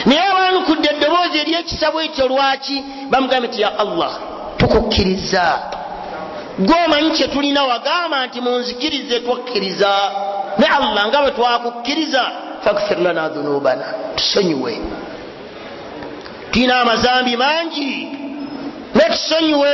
naye abaanukudde eddoboozi eryekisabo ekyo lwaki bamugambye nti ya allah tukukkiriza gwe omanyi kyetulina wagamba nti munzikirize twakkiriza ne allah nga bwe twakukkiriza fakfir lana dhunubana tusonyiwe tulina amazambi mangi netusonyiwe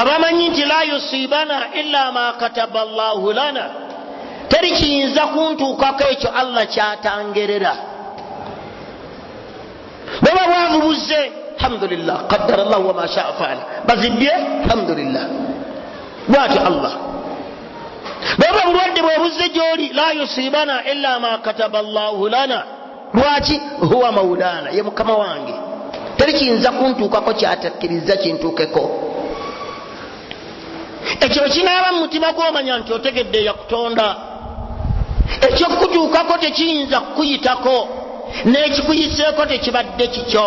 abamanyi nti la yusibana ila ma kataba llahu lana teri kiyinza kuntuukako ekyo allah kyatangerera baba bwavu buzze alhamdulillah qadara llahu wama shaa faala bazibbye alhamdulillah bwati allah baba bulwadde bwebuze gyoli la yusibana ila ma kataba llahu lana lwaki huwa maulana ye mukama wange teri kiyinza kuntuukako kyatakkiriza kintuukeko ekyo kinaaba mu mutima gwomanya nti otegedde yakutonda ekyokukutuukako tekiyinza kukuyitako n'ekikuyiseeko tekibadde kikyo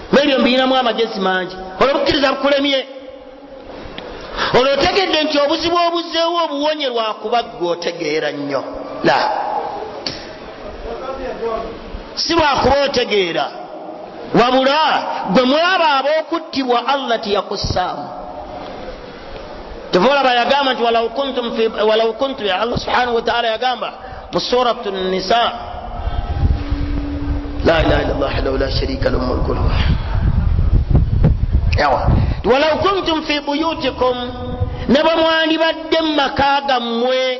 nebyo mbiyinamu amagezi mangi olwo bukkiriza bukulemye olwo otegedde nti obuzibu obuzeewo obuwonye lwakuba gwe otegeera nnyo la si lwakuba otegeera wabula gwe mwaba ab'okuttibwa allah teyakussaamu tevolaba yagamba nti walau kuntu ya allah subhanahu wataala yagamba mu surat nisa la ilaha illa llah wahdahu la sharika lahu mulku lwa yawa walau kuntum fi buyutikum ne bwe mwandibadde mu maka gammwe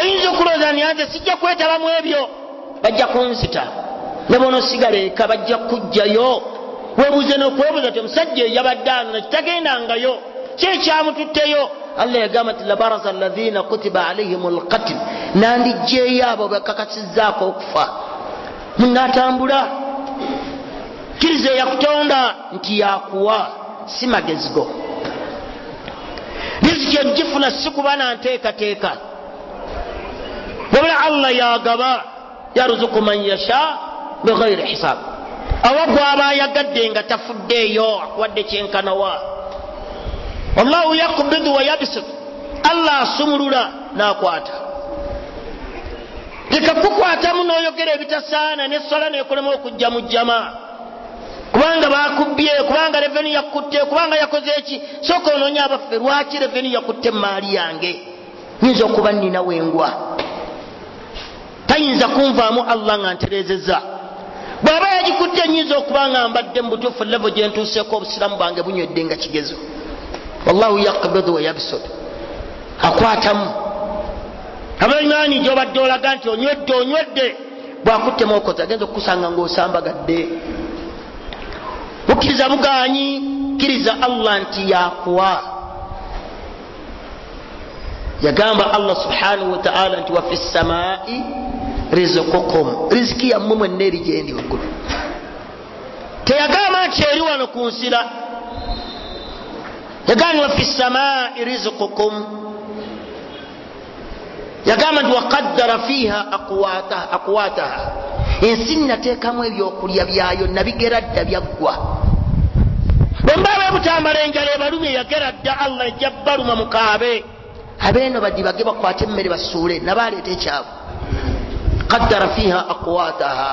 oyinza okulowooza ni anze sijja kwetaba mu ebyo bajja kunzita ne bwonosigala eka bajja kukujjayo webuze nokwebuza ti omusajja eyabadde ano nekitagendangayo kyekyamututteyo allah yagamba nti labaraza alaina kutiba alaihim lkatil nandijjeeyo abo bekakasizaako okufa munatambula kiriza eyakutonda nti yakuwa si magezi go riziki ogifuna si kuba na nteekateeka wabula allah yagaba yaruzuku man yasha bighairi hisab awa gwaba ayagadde nga tafuddeeyo akuwadde kyenkanawa wallahu yakubidu wayabisut allah asumulula nakwata leka kukwatamu noyogera ebitasaana neswala nekulema okujja mu jjama kubanga bakubbye kubanga reveni yakutte kubanga yakoze eki soka onoonya abaffe lwaki reveni yakutte emaali yange nyinza okuba nina wengwa tayinza kunvaamu allah nga ntereezeza bw'aba yagikutte nyinza okuba nga mbadde mu butuufu levo gye ntuuseeko obusiraamu bwange bunywedde nga kigezo wallahu yakbidu wayabsud akwatamu abaimani gyobadde olaga nti onywedde onywedde bwakutte mokozi agenza okukusanga ngaosambagadde bukkiriza buganyi kkiriza allah nti yakuwa yagamba allah subhanahu wataala nti wafi samai rizukukum riziki yammwe mwenna eri gyendi waggulu teyagamba nti eri wano ku nsira yagamba ni wafi samai rizukukum yagamba nti waqaddara fiiha aqwataha ensi nateekamu ebyokulya byayo nabigera dda byaggwa bwembaaba ebutambala enjala ebalumye yagera dda allah ejja baluma mukaabe abeeno badibage bakwate emmere basuule naba aleeta ekyabwe qaddara fiiha aqwataha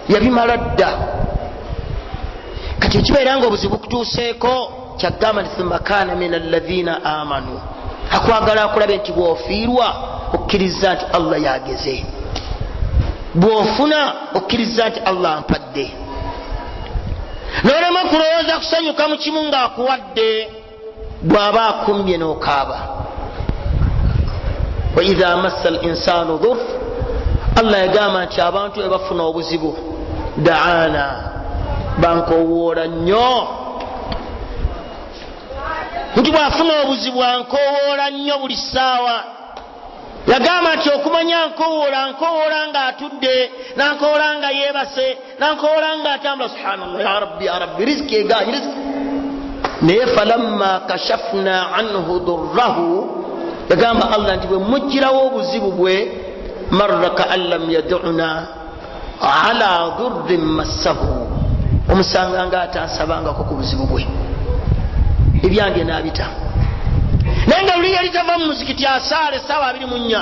yabimala dda kati ekibeera nga obuzibu kutuuseeko kyagamba nti thumma kaana min alladhina amanu akwagala akulabe nti bwofiirwa okkiriza nti allah yageze bwofuna okkiriza nti allah ampadde nolema kulowooza kusanyuka mukimu ngaakuwadde bwaba akumbye nokaaba waidha massa al insanu dhur allah yagamba nti abantu ebafuna obuzibu daana bankowoola nnyo nti bwafuna obuzibu ankowoola nnyo buli ssaawa yagamba nti okumanya nkowoola nkowoola nga atudde nankowoola nga yeebase nankoola nga atambula subhanallah ya rabbi ya rabbi riziki egaanyi riziki naye falamma kashafna anhu durrahu yagamba allah nti bwe mujjirawo obuzibu bwe marra kaan lam yaduna ala durrin massahu omusanga nga atansabangako ku buzibu bwe ebyange nabita naye nga luli yali tava mu muzikiti asaala esaawa abiri mu nnya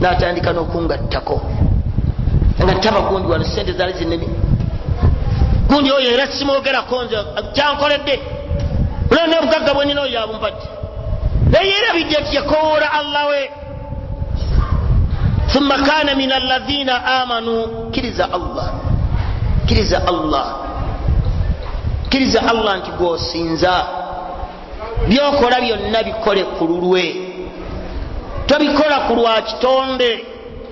natandika nokungattako nga taba gundi wano sente zali zinene gundi oyo era simwogerako nze kyankoledde oleo nobugagga bwenina oyo abumpadde naye erabidde nti yakowoola allah we thumma kana min alladhina amanu kiriza allah kiriza allah kiriza allah nti gwosinza byokola byonna bikole ku lulwe tobikola ku lwa kitonde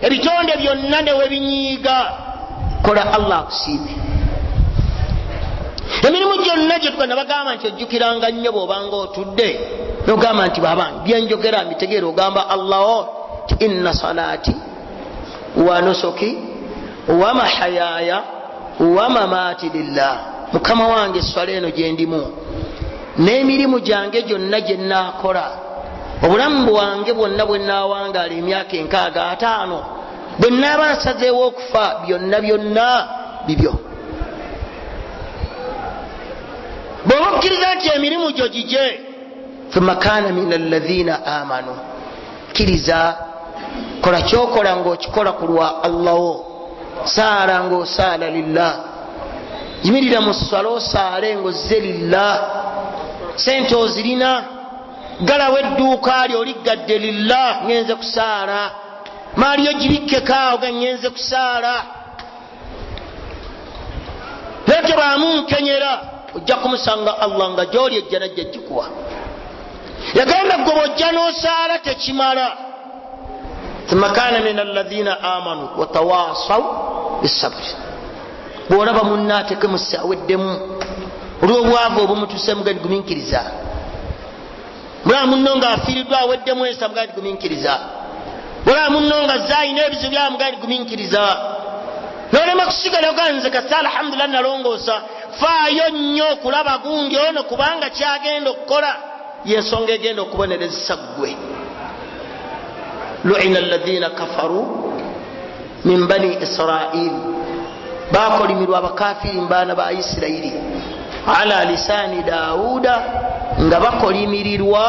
ebitonde byonna newebinyiiga kola allah akusiime emirimu gyonna gyetuga nabagamba nti ojjukiranga nnyo bwobanga otudde nogamba nti babange byenjogera mbitegeera ogamba allah o ti inna salaati wanusuki wamahayaya wamamaati lillah mukama wange eswala eno gyendimu n'emirimu gyange gyonna gye nnaakola obulamu bwange bwonna bwe nnaawangaala emyaka enkaaga ataano bwe nnaaba nsazeewo okufa byonna byonna bibyo bw'oba okkiriza nti emirimu gyo gigye thumma kaana min alladhina amanu kiriza kola kyokola ngaokikola ku lwa allah wo saala ngaosaala lillah yimirira mu sswala osaale ngaozze lillah sente ozirina galawo edduuka lyo oliggadde lillah ngenze kusaala maaliyo gibikkekaawo ga ngenze kusaala yekebaamu nkenyera ojja kumusanga allah nga gyoli ejjana jja jikuwa yagamba gwe bwojja nosaala tekimala thumma kana min alaina amanu watawasau bisabri bwolaba munna ateke musi aweddemu olwobwavu obumutusemuganiguminkiriza mulaba munno nga afiiriddwa aweddemu ensa mugaa nti gumiikiriza mulaba munno nga zaalina ebizibu byaba mugaa nti gumiikiriza nolema kusigala oganze kasa alhamdulillah nalongoosa faayo nnyo okulaba gundi ono kubanga kyagenda okukola yensonga egenda okubonerezesa ggwe luina alladhina kafaru min bani israil bakolimirwa abakafiri mubaana ba isirairi ala lisaani dawuda nga bakolimirirwa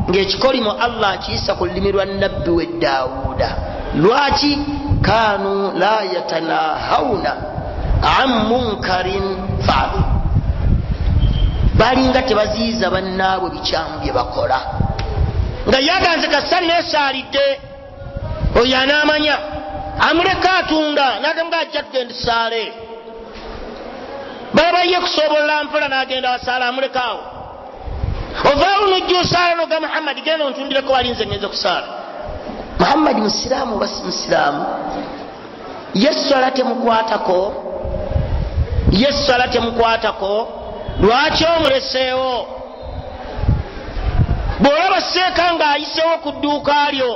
ngaekikolimo allah akiyisa ku lulimi lwa nabbi we dawuda lwaki kanu la yatanahawuna an munkarin faalu balinga tebaziyiza bannaabwe bikyamu bye bakola nga yaganze kasita neesaalidde oyo anaamanya amuleka atunda nagamuga ajja kugenda esaale baba ye kusobola mpola nagenda asaala amulekaawo ovaawo nojja osaala noga muhammadi genda ontundireko wali nze ngenze kusaala muhammadi musiraamu oba si musiraamu ye swala temukwatako ye swala temukwatako lwaki omuleseewo bw'olaba seeka ng'ayisewo ku dduuka lyo